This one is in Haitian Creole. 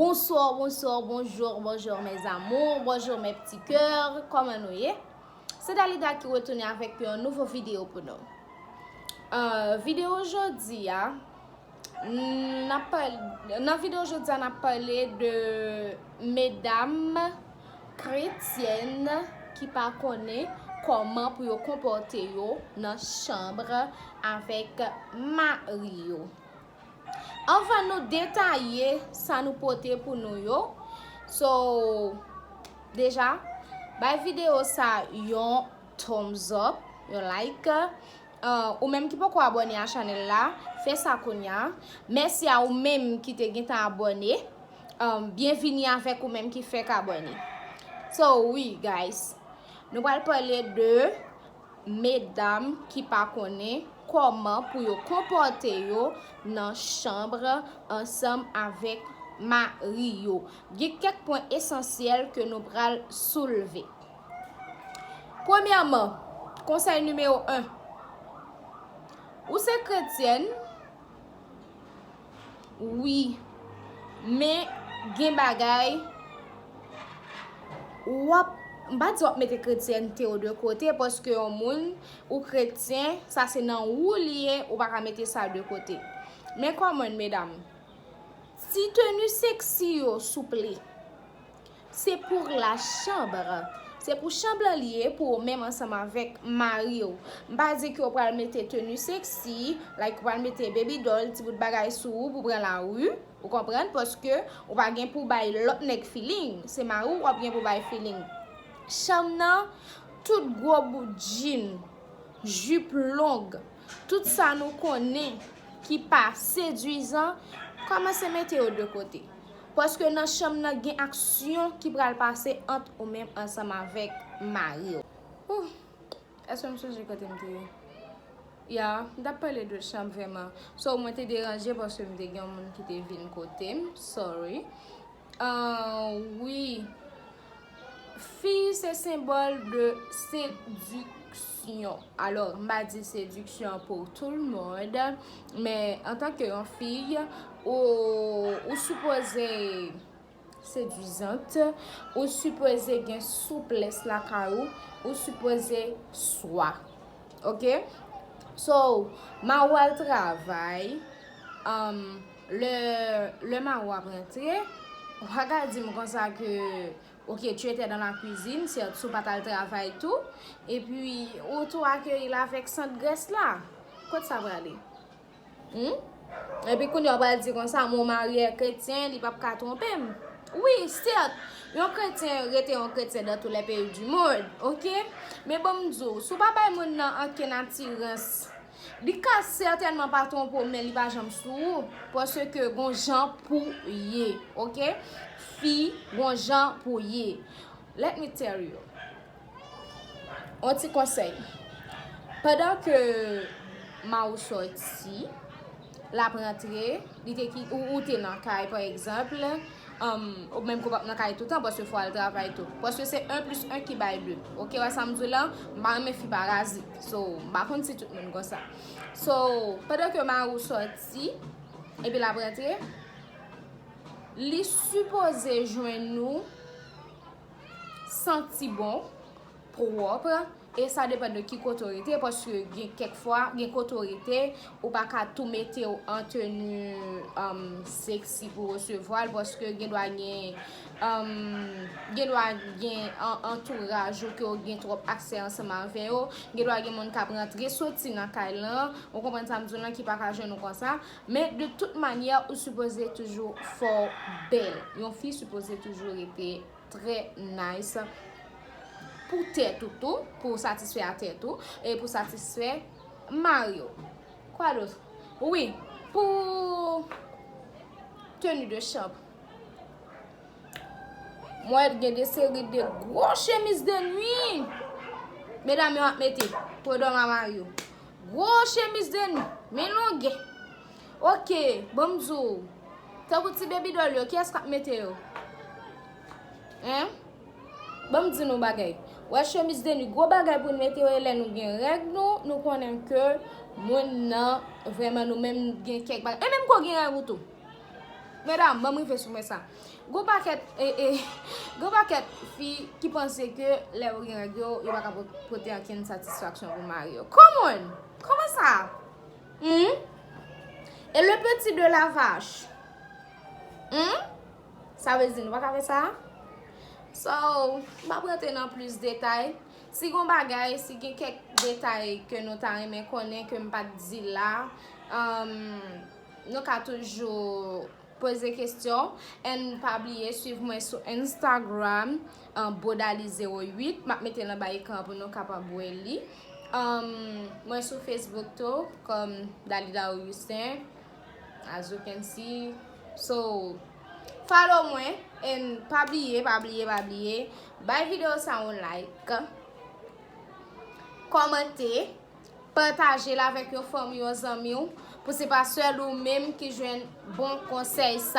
Bonsoir bonsoir bonjour bonjour mes amours bonjour mes petits coeurs kòman nou ye se Dalida ki retounen avèk yon nouvo video pou nou euh, video jodi ya nan video jodi ya nan pale de medam Kretyen ki pa konnen kòman pou yo konpòte yo nan chanb avèk mari yo. Anvan nou detaye sa nou pote pou nou yo, so deja bay videyo sa yon thumbs up, yon like. Ou menm ki poko abone a chanel la, fè sa kounya. Mèsi a ou menm ki te gentan abone. Byenvini avèk ou menm ki fèk abone. So wi guys, nou pral pale de medam ki pa konnen kòman pou yo konpòte yo nan chanbr ansanm avèk mari yo. Gen kèk pwen esansyèl ke nou pral soulve. Premyèman, konsèy nimewo 1, Ou se kretyèn, wi, men gen bagay w ap, m pa di w ap mete kretyènte w de kote paske yon moun ou kretyen, sa se nan ou li ye, ou pa ka mete sa de kote. Men kòmòn medam, ti teni seksi yo souple. Se pour la chambre. Se pou chanm lan li ye pou ou menm ansanm avèk mari ou. M pa di ke ou pral mete tenu sexy, like ou pral mete baby doll, ti bout bagay sou ou pou pran la rue, ou konprann, paske ou pa gen pou bay lòt nèg feeling, se mari ou wap gen pou bay feeling. Chanm nan, tout gwo bout jean, jupe longue, tout sa nou konnen ki pa seduisant, kòmanse mete yo de kote. Paske nan chanm nan gen aksyon ki pral pase ant ou menm ansanm avèk mari w. Ooh Eske m sonje kote m te ye Ya m tap pale de chanm vrèman So mwen te deranje paske m te gen yon moun ki te vin kote m Sorry Ahh wi Fi se senbòl de sediksyon. Alò, m pa di sediksyon pou tout l moun, men an tan ke yon fi, ou sipoze sedizant, ou sipoze gen souplès lakay ou, ou sipoze swa. Ok? So, ma ou al travay, anm. Lè, lè Maro ap rantre, ou pa ka di m konsa ke, ok, tu etais dans la cuisine, certes, si w pa t al travay tou, e pi ou tou akeyi l avèk sant grès la. Kot sa prale? Hum? E pi kounye a ou pral di konsa, mon mari est chrétien, li pap ka twonpe m. Wi, certes, yon kretyen rete yon kretyen dans tous les pays du monde, ok? Men ban m di w, si w pa bay moun nan ankenn atirans, Li ka sètènman pa twonpe w men li pa janm sou ou paske gon jan pouw ye ok fi gon jan pouw ye let me tell you on ti konsèy pandan ke Mao sòti l ap rantre, li te ki, ou, ou te nan kay pa egzanpl, ou menm ke ou pa p nan kay toutan paske fò w al travay tou. Paske se 1 plis 1 ki bay 2. Ok, ou wè sa m di w la? M pa renmen fi parazit. So, m pa konn si tout moun konsa. So, pandan ke mari w sòti, epi l ap rantre, li sipoze jwenn ou santi bon, pwòp. E sa depan de ki kote w rete paske gen kèk fwa gen kote w rete ou pa ka tou mete w an teni sexy pou resevwa l paske gen dwa gen gen dwa gen antouraj ou ke w gen twòp aksè ansanm avè yo gen dwa gen moun k ap rantre soti nan kay lan ou konprann sa m di w lan ki pa ka jwenn ou konsa men de tout manyè ou sipoze toujou fè w bèl yon fi sipoze toujou rete. Trè nice pou tèt ou tou, pou satisfè a tèt ou, e pou satisfè mari w. Kwa dot? Wi, pou teni de chanp. Mwen gen de seri de gwo chemise de nuit. Medam yo ap mete pou yo dòmi a mari yo. Gwo chemise de nuit, men longue. Ok banm di w Tankou ti baby doll yo kiyès kap mete yo Hein Banm di nou bagay Ou wè chemise de nuit gwo bagay pou n mete yo e lè nou gen règ nou nou konnen ke moun nan vrèman nou menm gen kèk bagay e menm ke w gen règ ou tou medam banm rive sou mwen sa gon pakèt ee gon pakèt fi ki panse ke lè yo gen règ yo yo pa ka pote ankenn satisfaksyon pou mari yo come on kòman sa. Humm et le petit de la vache humm sa vle di nou paka fè sa so m pap rantre nan plis detay si gon bagay si gen kèk detay ke nou ta renmen konnen ke m pat di la humm nou ka toujou Poze kestyon and pa bliye swiv mwen sou Instagram Bodali 08 map mete l anba ekran pou nou kapab wè li. Mwen sou Facebook tou kòm Dalida Augustin as you can see so follow mwen and pa bliye pa bliye pa bliye bay video sa yon like kòmante. Patajel avèk yon fanmiw yon zanmiw pou se pa sèl ou menm ki jwenn bon konsèy sa.